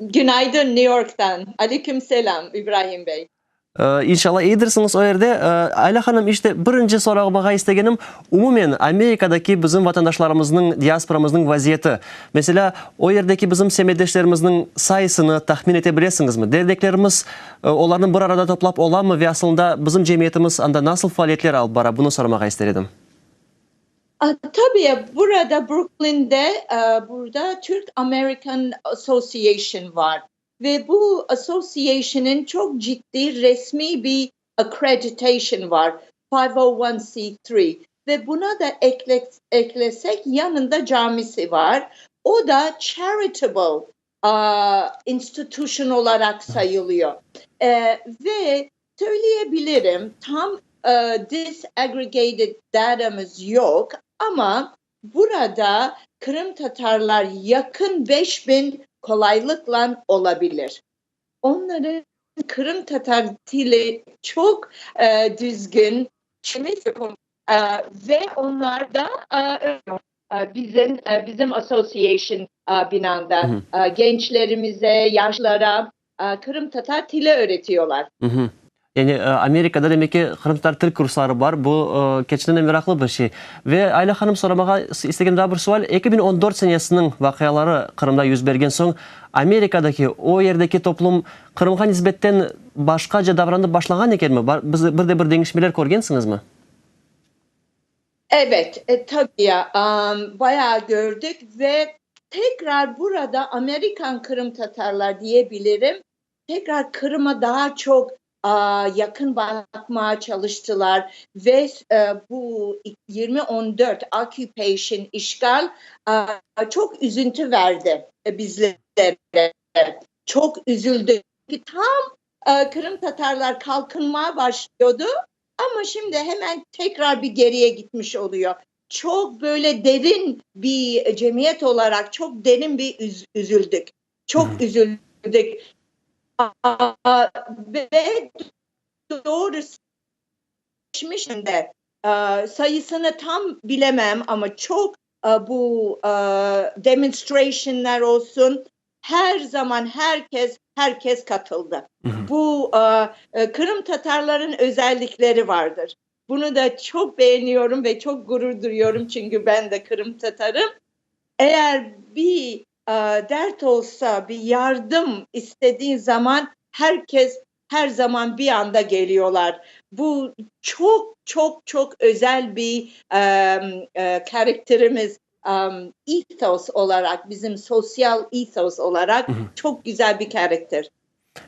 Günaydın, New York'tan. Aleyküm selam, İbrahim bey. İnşallah iyidirsiñiz o yerde. Ayla hanım, işte birinci sorağmağa istegenim, umumen Amerikadaki bizim vatandaşlarımıznıñ, diasporamıznıñ vaziyeti. Meselâ, o yerdeki bizim semetdeşlerimizniñ sayısını tahmin ete bilesiñizmi? Derneklerimiz olarnı bir arada toplap olamı ve asılında bizim cemiyetimiz anda nasıl faaliyetler alıp bara, bunı sormağa ister edim. Tabi, burada, Bruklinde, burada Türk American Association var ve bu association'niñ çoq ciddi resmiy bir accreditation var, 501(c)(3), ve buna da eklesek, yanında camisi var, o da charitable institution olaraq sayılıyor ve söyleyebilirim, tam disaggregated datamız yoq, amma burada qırımtatarlar yaqın beş biñ qolaylıqla olabilir. Onların qırımtatar tili çoq düzgün ve onlar da öyle. Bizim, bizim association binanda gençlerimize, yaşlara qırımtatar tili öğretiyorlar. Yani Amerikada demek ki qırımtatar til kursları bar, bu keçten de meraqlı bir şey. Ve Ayla hanım, soramağa istegem daa bir sual, eki biñ on dört senesiniñ vaqiaları Qırımda yüz bergen soñ, Amerikadaki, o yerdeki toplum Qırımğa nisbetten başqaca davranıp başlağan ekenmi? Biz, bir de bir deñişmeler körgensiñizmi? Ebet, tabii, bayağı kördik ve tekrar burada Amerikan Qırımtatarlar diye bilirim, tekrar Qırım'a daa çoq yaqın baqmağa çalıştılar ve bu yirmi on dört occupation, işğal, çoq üzüntü verdi bizlere, çoq üzüldük. Tam Qırımtatarlar qalqınmağa başlıyordu, Amma şimdi hemen tekrar bir geriye gitmiş oluyo. Çoq böyle derin bir cemiyet olaraq çoq derin bir üzüldük. Çoq üzüldük. Ve doğrusı geçmişinde sayısını tam bilemem, amma çoq Bu demonstrationlar olsun, her zaman her kes, her kes katıldı. Bu qırımtatarların özellikleri vardır. Bunu da çoq beğeniyorum ve çoq gurur duyuyorum, çünkü ben de qırımtatarım. Eğer bir dert olsa, bir yardım istediğin zaman, her kes Her zaman bir anda keliyorlar. Bu çoq, çoq, çoq özel bir karakterimiz, ethos olaraq, bizim sosyal ethos olaraq çoq güzel bir karakter.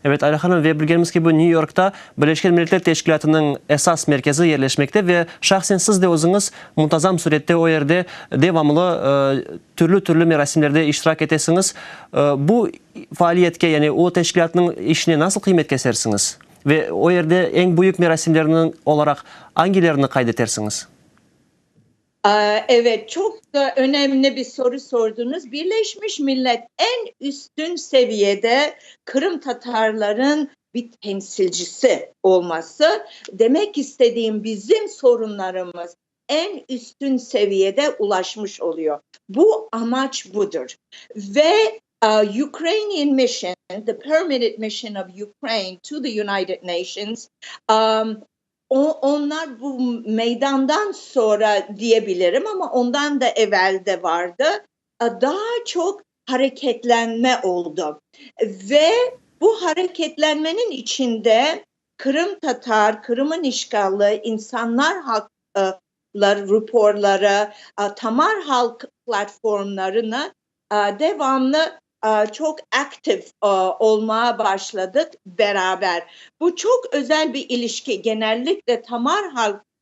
Evet, Ayla hanım, ve bilgenimiz kibi, Nyu Yorkta Birleşken Milletler Teşkilâtınıñ esas merkezi yerleşmekte ve şahsen siz de özüñiz muntazam sürette o yerde devamlı Türlü-türlü merasimlerde iştirak etesiñiz. Bu faaliyetke, yani o teşkilâtnıñ işine nasıl qıymet kesersiñiz? Ve o yerde eñ büyük merasimlerniñ olaraq angilerini qayd etersiñiz? Evet, çoq önemli bir soru sorduñız. Birleşmiş Millet eñ üstün seviyede qırımtatarlarınñ bir temsilcisi olması, demek istediğim, bizim sorunlarımız, eñ üstün seviyede ulaşmış oluyo. Bu amaç budır. Ve Ukrainian Mission, the Permanent Mission of Ukraine to the United Nations, onlar bu meydandan sonra diyebilirim, amma ondan da evel de vardı, daa çoq hareketlenme oldı ve bu hareketlenmeniñ içinde qırımtatar, Qırım'ın işğali, insanlar haq ları ruporları, tamar halq platformlarını devamlı çoq aktiv olmağa başladıq beraber. Bu çoq özel bir ilişki, genellikle tamar halq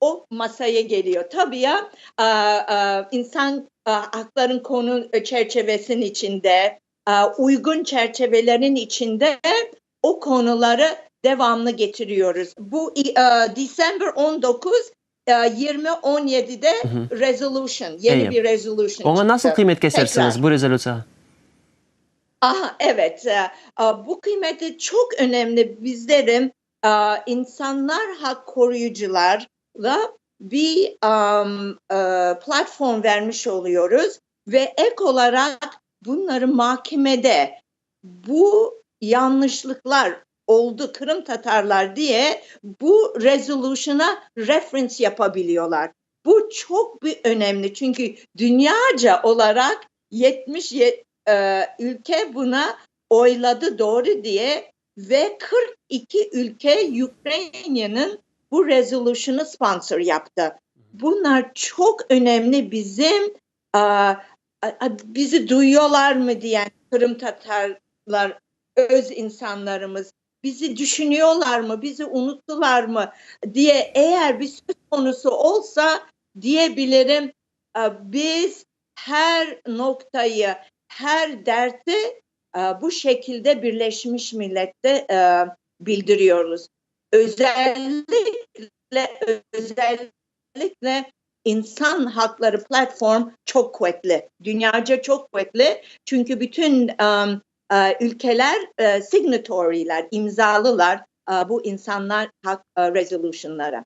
O masaya keliyor. Tabi ya, insan aqların qonu çerçevesinin içinde, uyğun çerçevelerin içinde o qonuları devamlı getiriyoruz. Bu December on dokuz yirmi on yedide resolution, yeni bir resolution çıqtı. Oña nasıl qıymet kesersiniz, bu rezolütsiyağa? Aha, evet, bu qıymeti çoq önemli bizlerin İnsanlar haq qoruyıcılarğa bir platform vermiş oluyoruz ve ek olaraq bunları makemede bu yanlışlıqlar oldu qırımtatarlar diye bu resolution'a reference yapa biliyorlar. Bu çoq bir önemli, çünki dünyaca olaraq yetmiş Ülke bunı oyladı doğru diye ve qırq iki ülke Ukraineniñ bu rezolyuşını sponsor yaptı. Bunlar çoq önemli bizim, bizi duyuyorlarmı diyen qırımtatarlar, öz insanlarımız, bizi düşünüyorlarmı, bizi unuttılarmı diye eğer bir söz konusu olsa diyebilirim, biz Her noktayı, her derti bu şekilde Birleşmiş Millette bildiriyoruz. Özellikle, özellikle İnsan Haqları Platform çoq quvetli, dünyaca çoq quvetli, çünki bütün ülkeler signatorylar, imzalılar bu İnsan Haqları Resolutionları.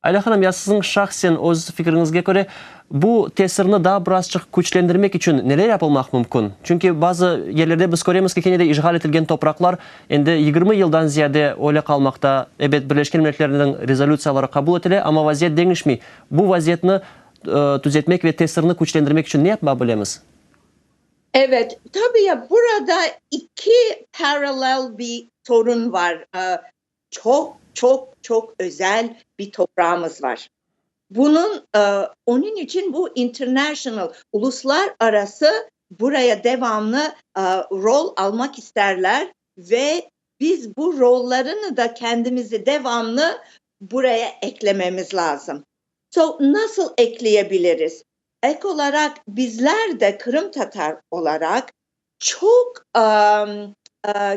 Ayla hanım, ya siziñ şahsen öz fikriñizge köre, bu tesirni daa birazçıq küçlendirmek içün neler yapılmaq mümkün? Çünki bazı yerlerde biz köremiz ki, kene de işğal etilgen topraqlar endi yigirmi yıldan ziyade öyle qalmaqta. Ebet, Birleşken Milletlerniñ rezolütsiyaları qabul etile, amma vaziyet deñişmey. Bu vaziyetni tüzetmek ve tesirni küçlendirmek içün ne yapma bilemiz? Evet, tabii ya, burada iki parallel bir sorun var. Çoq, çoq, çoq özel bir toprağımız var. Bunıñ, onıñ içün bu international, uluslar arası buraya devamlı rol almaq isterler ve biz bu rollarını da kendimizi devamlı buraya eklememiz lazım. So, nasıl ekleyebiliriz? Ek olaraq, bizler de qırımtatar olaraq Çoq,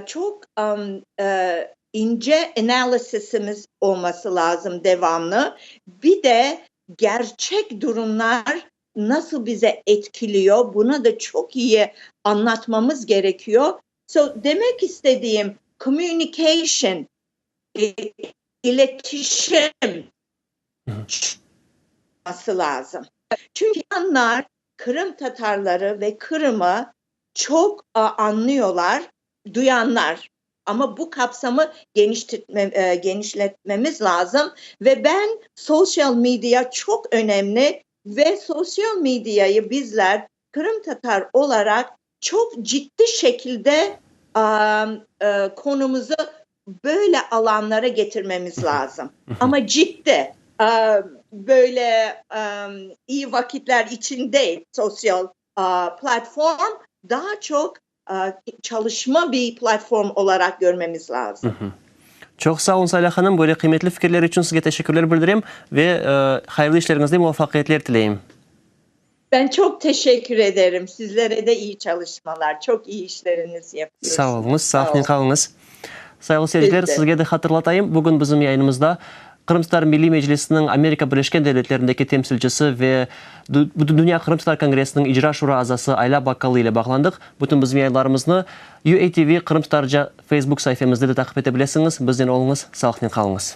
çoq ince analizimiz olması lazım devamlı. Bir de gerçek durumlar nasıl bize etkiliyo, bunı da çoq iyi anlatmamız gerekiyo. So, demek istediğim, communication, iletişim, çıqması lazım. Çünki anlar qırımtatarları ve Qırımı çoq añlıyorlar, duyanlar. Amma bu qapsamı genişletmemiz lazım ve ben social media çoq önemli ve social mediayı bizler qırımtatar olaraq Çoq ciddi şekilde konumızı böyle alanlara getirmemiz lazım. Amma ciddi, böyle iyi vakitler içün değil, sosyal platform daa çoq çalışma bir platform olaraq görmemiz lazım. Çoq sağ olun, Salâh hanım, böyle qıymetli fikirler içün sizge teşekkürler bildirem ve hayırlı işleriñizde muvafaqiyetler tileyim. Ben çoq teşekkür ederim. Sizlere de iyi çalışmalar. Çoq iyi işleriniz yapıyorsınız. Sağ olunız, sağnen qalınız. Sayılı seyirciler, sizge de hatırlatayım, bugün bizim yayınımızda Qırımtatar Milliy Meclisiniñ Amerika Birleşken Devletlerindeki temsilcisi ve Bütündünya Qırımtatar Kongressiniñ İcra Şura azası Ayla Bakkalı ile bağlandıq. Bütün bizim yayınlarımıznı UATV Qırımtatarca Facebook saifemizde de taqip ete bilesiñiz. Biznen oluñız, sağlıqnen qalıñız.